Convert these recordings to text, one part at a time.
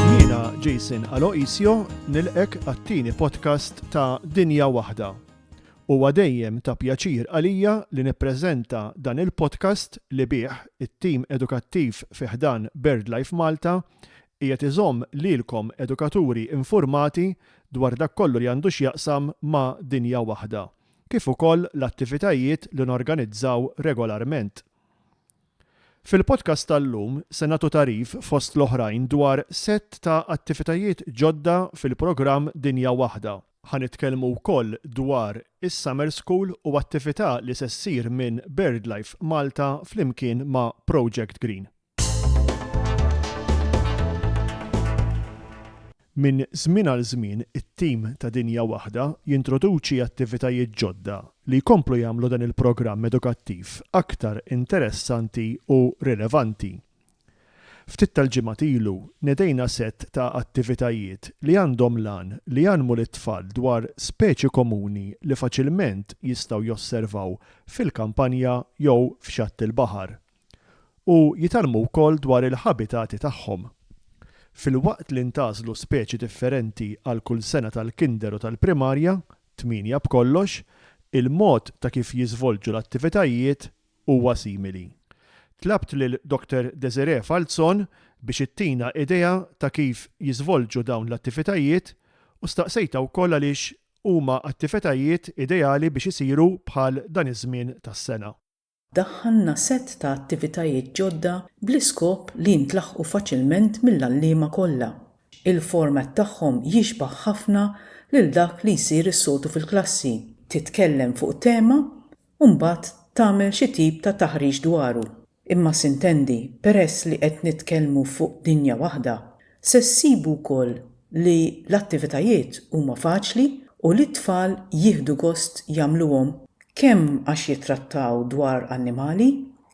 Jiena Jason Aloisio nilqek għat-tieni podcast ta' Dinja Waħda. Huwa dejjem ta' pjaċir għalija li nippreżenta dan il-podcast li bih it-tim edukattiv fi ħdan BirdLife Malta Qiegħed iżomm lilkom edukaturi infurmati dwar dak kollu li għandu x'jaqsam ma' Dinja Waħda, kif ukoll l-attivitajiet li norganizzaw regolarment. Fil-podcast tal-lum se nagħtu tagħrif fost l-oħrajn dwar sett ta' attivitajiet ġodda fil-programm Dinja Waħda. Ħa nitkellmu wkoll dwar is-Summer School u attività li se ssir minn BirdLife Malta flimkien ma' Project Green. Minn żmien għal żmien it-tim ta' Dinja Waħda jintroduċi attivitajiet ġodda li jkomplu jagħmlu dan il-programm edukattiv aktar interessanti u rilevanti. Ftit tal-ġimgħat ilu nedejna sett ta' attivitajiet li għandhom l-għan li jgħallmu lit-tfal dwar speċi komuni li faċilment jistgħu josservaw fil-kampanja jew f'xatt il-baħar. u jitgħallmu wkoll dwar il-ħabitati tagħhom. Filwaqt li ntgħażlu speċi differenti għal kull sena tal-kinder u tal-primarja, tmienja b'kollox, il-mod ta' kif jiżvolġu l-attivitajiet huwa simili. Tlabt lil Dr. Desiree Falzon biex ittina idea ta' kif jiżvolġu dawn l-attivitajiet u staqsejtha wkoll għaliex huma attivitajiet ideali biex isiru bħal dan iż-żmien tas-sena. daħħalna sett ta' attivitajiet ġodda bl-iskop li jintlaħqu faċilment mill-għalliema kollha. Il-format tagħhom jixbah ħafna lil dak li jsir is-soltu fil-klassi, titkellem fuq tema u mbagħad tagħmel xi tip ta' taħriġ dwaru. Imma s'intendi, peress li qed nitkellmu fuq dinja waħda, Se ssibu wkoll li l-attivitajiet huma faċli u li t-tfal jieħdu gost jagħmluhom kemm għax jittrattaw dwar annimali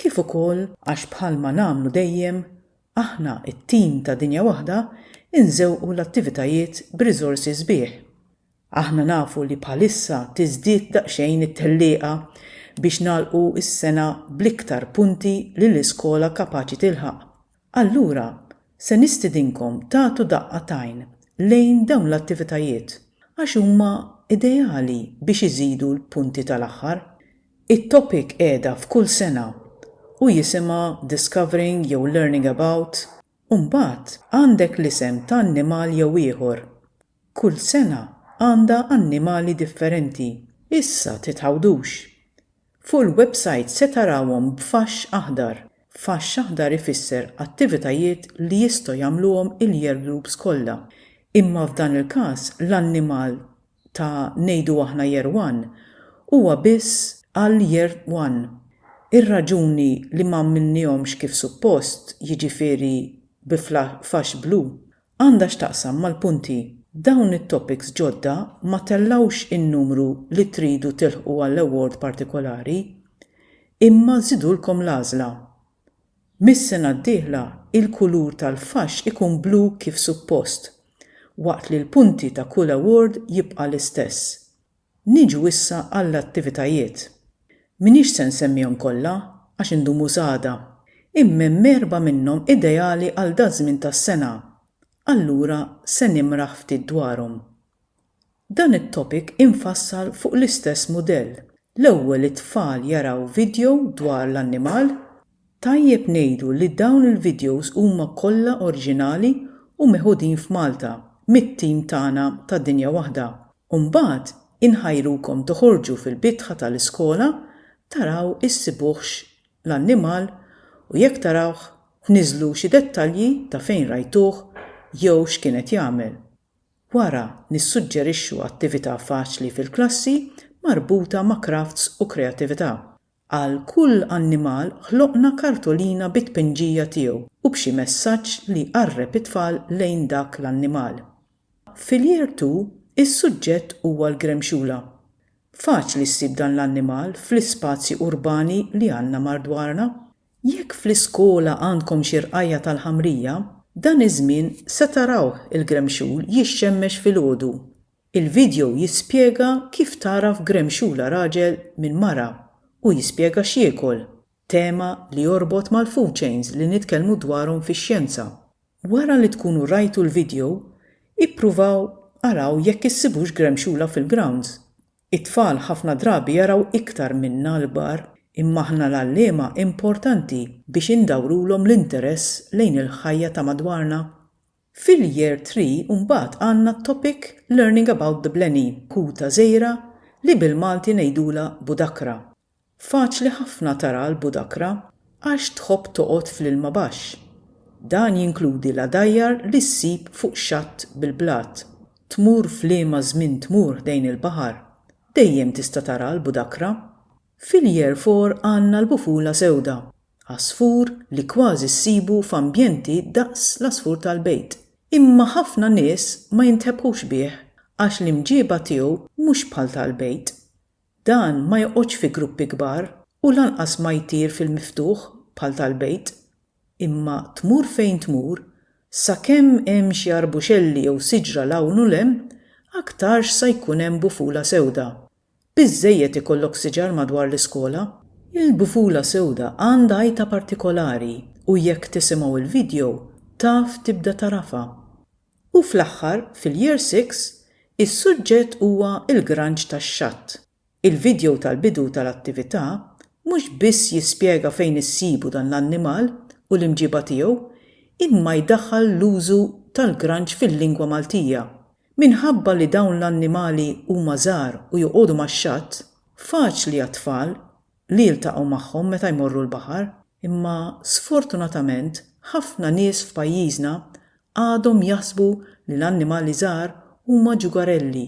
kif ukoll għax bħalma nagħmlu dejjem aħna t-tim ta' Dinja Waħda nżewqu l-attivitajiet b'riżorsi sbieħ. Aħna nafu li bħalissa tiżdied daqsxejn it-tellieqa biex nagħlqu s-sena bl-iktar punti li l-iskola kapaċi tilħaq Allura, se nistidinkom tagħtu daqqa t'għajn lejn dawn l-attivitajiet għax huma ideali biex iżidu l-punti tal-aħħar. It-topic qiegħda f'kull sena u jisimha Discovering jew Learning About u mbagħad għandek l-isem ta' annimal jew ieħor Kull sena għandha annimali differenti. Issa titgħawdux. Fuq il-websajt se tarawhom b'faxx aħdar. Faxx aħdar ifisser attivitajiet li jistgħu jagħmluhom il-year groups kollha. Imma f'dan il-każ l-annimal ta' ngħidu aħna year one huwa biss għal year one. Ir-raġuni li m'għamilniehomx kif suppost, jiġifieri bi faxx blu, Għandha x'taqsam mal-punti. Dawn it-topics ġodda ma tellgħux in-numru li tridu tilħqu għall-award partikolari, imma żidulkom l-għażla. Mis-sena d-dieħla il-kulur tal-faxx ikun blu kif suppost, waqt li l-punti ta' kull award jibqa' l-istess. Niġu issa għall-attivitajiet. M'iniex se nsemmihom kollha għax indumu s'għada. Imma hemm erbgħa minnhom ideali għal daż-żmien tas-sena, allura se nimraħ ftit dwarhom. Dan it-topic infassal fuq l-istess mudell, l-ewwel it-tfal jaraw vidjow dwar l-annimal Tajjeb ngħidu li dawn il-videos huma kollha orġinali u meħudin f'Malta mit-team tagħna ta' Dinja Waħda u mbagħad inħajrukom toħorġu fil-bitħa tal-iskola taraw issibuhx l-annimal u jekk tarawh tniżżlu xi dettalji ta' fejn rajtuh jew x'kien qed jagħmel. Wara nissuġġerixxu attività faċli fil-klassi marbuta ma' crafts u kreatività. Għal kull annimal ħloqna kartolina bit-tpinġija tiegħu u b'xi messaġġ li jqarreb it-tfal lejn dak l-annimal. Fil-Year Two, is-suġġett huwa l-gremxula. Faċli ssib dan l-annimal fl-ispazji urbani li għandna mardwarna. Jekk fl-iskola għandkom xi rqajja' tal-ħamrija, dan iż-żmien se tarawh il-gremxul jixxemmex filgħodu Il-vidjow jispjega kif tagħraf gremxula raġel minn mara u jispjega x'jiekol, tema li jorbot mal-food chains li nitkellmu dwarhom fix-xjenza. Wara li tkunu rajtu l-vidjow, ippruvaw araw jekk issibux gremxula fil-grounds. It-tfal ħafna drabi jaraw iktar minna l-kbar, imma aħna l-għalliema importanti biex indawrulhom l-interess lejn il-ħajja ta' madwarna. Fil-Year Three mbagħad għandna t-topic Learning about the Blenny, kuta żgħira li bil-Malti ngħidulha budakra. Faċli ħafna taraha l-budakra għax tħobb toqgħod fl-ilma baxx. Dan jinkludi l-għadajjar li ssib fuq xatt bil-blat. Tmur f'liema żmien tmur ħdejn il-baħar, dejjem tista' taraha l-budakra. Fil-Year Four għandna l-bufula sewda, għasfur li kważi ssibu f'ambjenti daqs l-għasfur tal-bejt. Imma ħafna nies ma jintebħux bih għax l-imġieba tiegħu mhux bħal tal-bejt. Dan ma joqgħodx fi gruppi kbar u lanqas ma jtir fil-miftuħ bħal tal-bejt. Imma tmur fejn tmur, sakemm hemm xi arbuxelli jew siġra 'l hawn u 'l hemm, aktarx sa jkun hemm bufula sewda, Biżżejjed ikollok siġar madwar l-iskola? Il-bufula sewda għandha għajta partikolari u jekk tisimgħu l-video taf tibda tagħrafha. U fl-aħħar fil-Year Six is-suġġett huwa l-granġ tax-xatt. Il-video tal-bidu tal-attività mhux biss jispjega fejn issibu dan l-annimal u l-imġiba tiegħu imma jdaħħal l-użu tal-granġ fil-lingwa Maltija Minħabba li dawn l-annimali huma żgħar u joqogħdu max-xatt, faċli għat-tfal li jiltaqgħu magħhom meta jmorru l-baħar. Imma sfortunatament ħafna nies f'pajjiżna għadhom jaħsbu li l-annimali żgħar huma ġugarelli.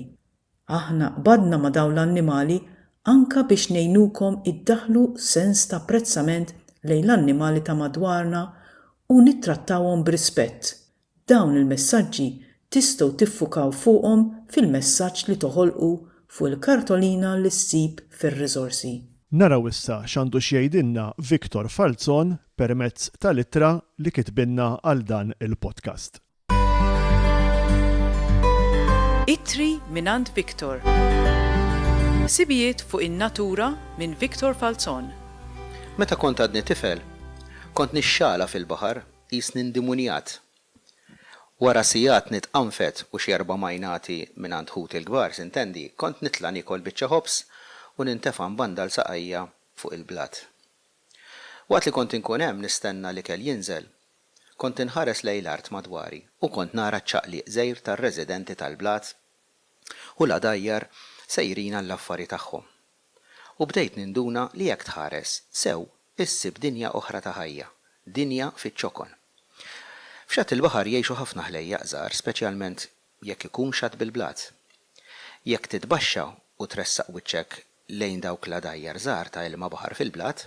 Aħna qbadna ma' dawn l-annimali anke biex ngħinukom iddaħħlu sens ta' apprezzament lejn l-annimali ta' madwarna u nittrattawhom b'rispett, Dawn il-messaġġi tistgħu tiffukaw fuqhom fil-messaġġ li toħolqu fuq il-kartolina li ssib fir-Riżorsi. Naraw issa x'għandu x'jgħidilna Victor Falzon permezz tal-ittra li kitbilna għal dan il-podcast. Ittri mingħand Victor. Ħsibijiet fuq in-natura minn Victor Falzon. Meta kont għadni tifel, kont nixxala fil-baħar. Qisni ndimunjat. Wara sigħat nitqanfet u xi erba' majnati mingħand ħuti l-kbar, s'intendi, kont nitla' niekol biċċa ħobż u nintefa' mbandal saqajja fuq il-blat. Waqt li kont inkun hemm nistenna l-ikel jinżel, kont inħares lejn l-art madwari u kont nara ċ-ċaqliq żgħir tar-residenti tal-blat u l-għadajjar sejrin għall-affari tagħhom. U bdejt ninduna li jekk tħares sew issib dinja oħra ta' ħajja, dinja fiċ-ċokon. F'xatt il-baħar jgħixu ħafna ħlejjaq żgħar speċjalment jekk ikun xatt bil-blat. Jekk titbaxxa u tressaq wiċċek lejn dawk l-għadajjar żgħar ta' ilma baħar fil-blat,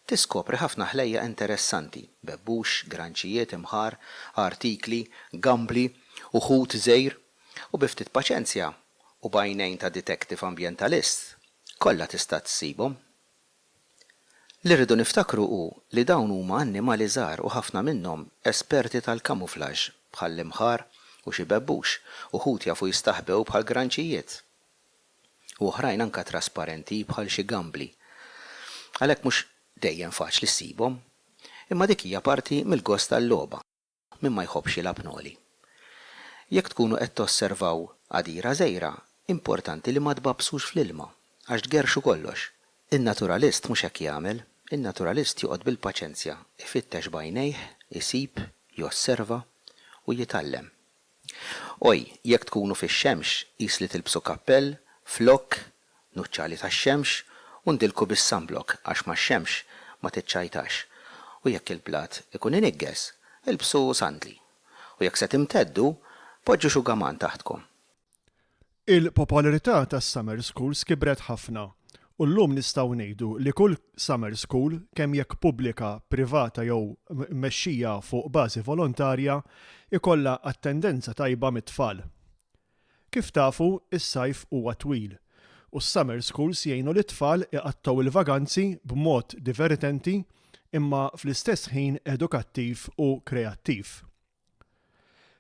tiskopri ħafna ħlejjaq interessanti, bebbux, granċijiet, imħar, għartikli, gambli u ħut żgħir. U bi ftit paċenzja u b'għajnejn ta' detective ambjentalist, kollha tista' ssibhom. Li rridu niftakru hu li dawn huma annimali żgħar u ħafna minnhom esperti tal-kamuflaġġ bħall-imħar u xi bebbux, uħud jafu jistaħbew bħal granċijiet u oħrajn anke trasparenti bħal xi gambli. Għalhekk mhux dejjem faċli ssibhom. Imma dik hija parti mill-gost tal-logħba. Min ma jħobbx jilgħab noli. Jekk tkunu qed tosservaw għadira żgħira, importanti li ma tbabbsux fl-ilma, għax tgerrxu kollox. In-naturalist mhux hekk jagħmel. In-naturalist joqgħod bil-paċenzja, ifittex b'għajnejh, isib, josserva, u jitgħallem. Oj, jekk tkunu fix-xemx, qis li tilbsu kappell, flokk, nuċċali tax-xemx, u ndilku bis-sunblock għax max-xemx ma tiċċajtax. U jekk il-blat ikun iniggeż, ilbsu sandli. U jekk se timteddu, poġġu xugaman taħtkom. Il-popolarità tas-summer schools kibret ħafna u llum nistgħu ngħidu li kull summer school, kemm jekk pubblika, privata jew mmexxija fuq bażi volontarja, ikollha attendenza tajba mit-tfal. Kif tafu, is-sajf huwa twil u s-summer schools jgħinu lit-tfal iqattgħu l-vaganzi b'mod divertenti imma fl-istess ħin edukattiv u kreattiv.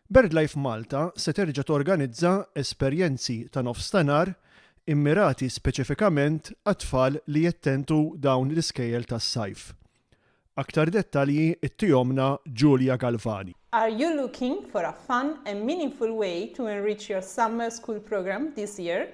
BirdLife Malta se terġa' torganizza esperjenzi ta' nofstanhar immirati speċifikament għat-tfal li jattendu dawn l-iskejjel tas-sajf. Aktar dettalji ttihomna Julia Galvani. Are you looking for a fun and meaningful way to enrich your summer school programme this year?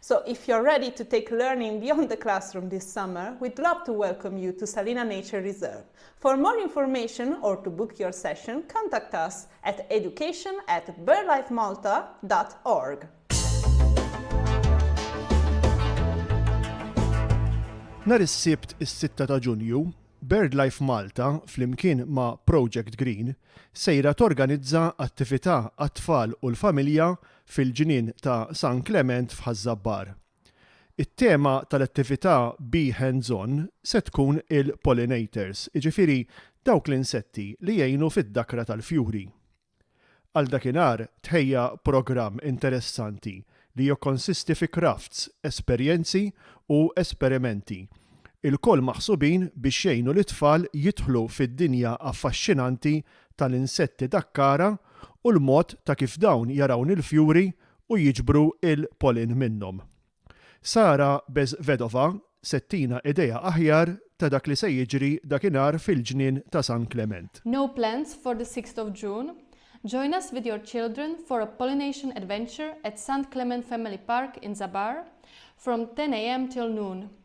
So if you're ready to take learning beyond the classroom this summer, we'd love to welcome you to Salina Nature Reserve. For more information or to book your session, contact us at education at birdlifemalta.org. Nar is-Sibt is-6 ta' Ġunju, BirdLife Malta, flimkien ma' Project Green, sejra torganizza attività għat-tfal u l-familja fil-Ġnien ta' San Klement f'Ħaż-Żabbar. It-tema tal-attività Be Hands On se tkun il-Pollinators, jiġifieri dawk l-insetti li jgħinu fid-dakra tal-fjuri. Għal dakinhar tħejja programm interessanti li jokkonsisti fi crafts, esperjenzi u esperimenti, ilkoll maħsubin biex jgħinu lit-tfal jidħlu fid-dinja affaxxinanti tal-insetti dakkara u l-mod ta' kif dawn jarawn il-fjuri u jiġbru l-pollen minnhom. Sara Bezvedova se ttina idea aħjar ta' dak li se jiġri dakinhar fil-Ġnien ta' San Klement. No plans for the sixth of June? Join us with your children for a pollination adventure at St Clement Family Park in Zabar from 10 am till noon.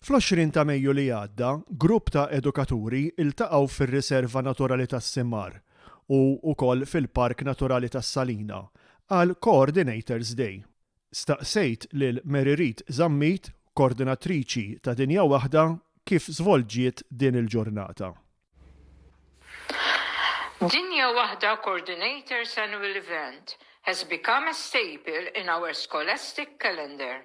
Fl-20 ta' Mejju li għadda, grupp ta' edukaturi ltaqgħu fir-Riserva Naturali tas-Simar u wkoll fil-Park Naturali tas-Salina għal Coordinators Day. Staqsejt lil Mary Read Zammit, Koordinatriċi ta' Dinja Waħda kif żvolġiet din il-ġurnata. Dinja Waħda Coordinators Annual Event has become a staple in our scholastic calendar.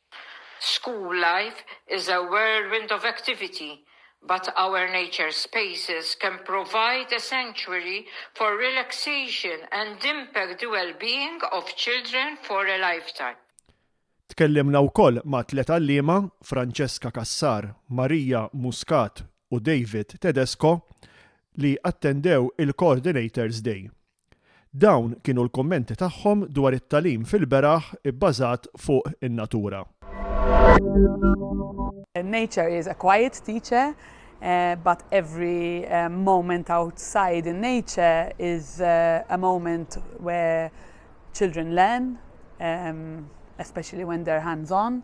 School life is a whirlwind of activity but our nature spaces can provide a sanctuary for relaxation and impact the wellbeing of children for a lifetime. Tkellimna wkoll ma' tliet għalliema, Francesca Cassar, Maria Muscat u David Tedesco, li attendew il-Coordinators' Day. Dawn kienu l-kummenti tagħhom dwar it-tagħlim fil-beraħ ibbażat fuq in-natura. Nature is a quiet teacher but every moment outside in nature is a moment where children learn especially when they're hands on.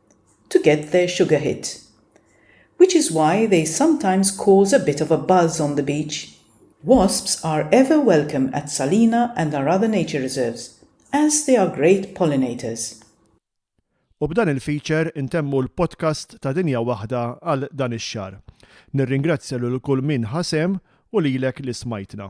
to get their sugar hit. Which is why they sometimes cause a bit of a buzz on the beach. Wasps are ever welcome at Salina and our other nature reserves, as they are great pollinators. U b'dan il-feature intemmu l-podcast ta' Dinja Waħda għal dan ix-xahar. Nirringrazzja lil kull min ħa sehem u lilek li smajtna.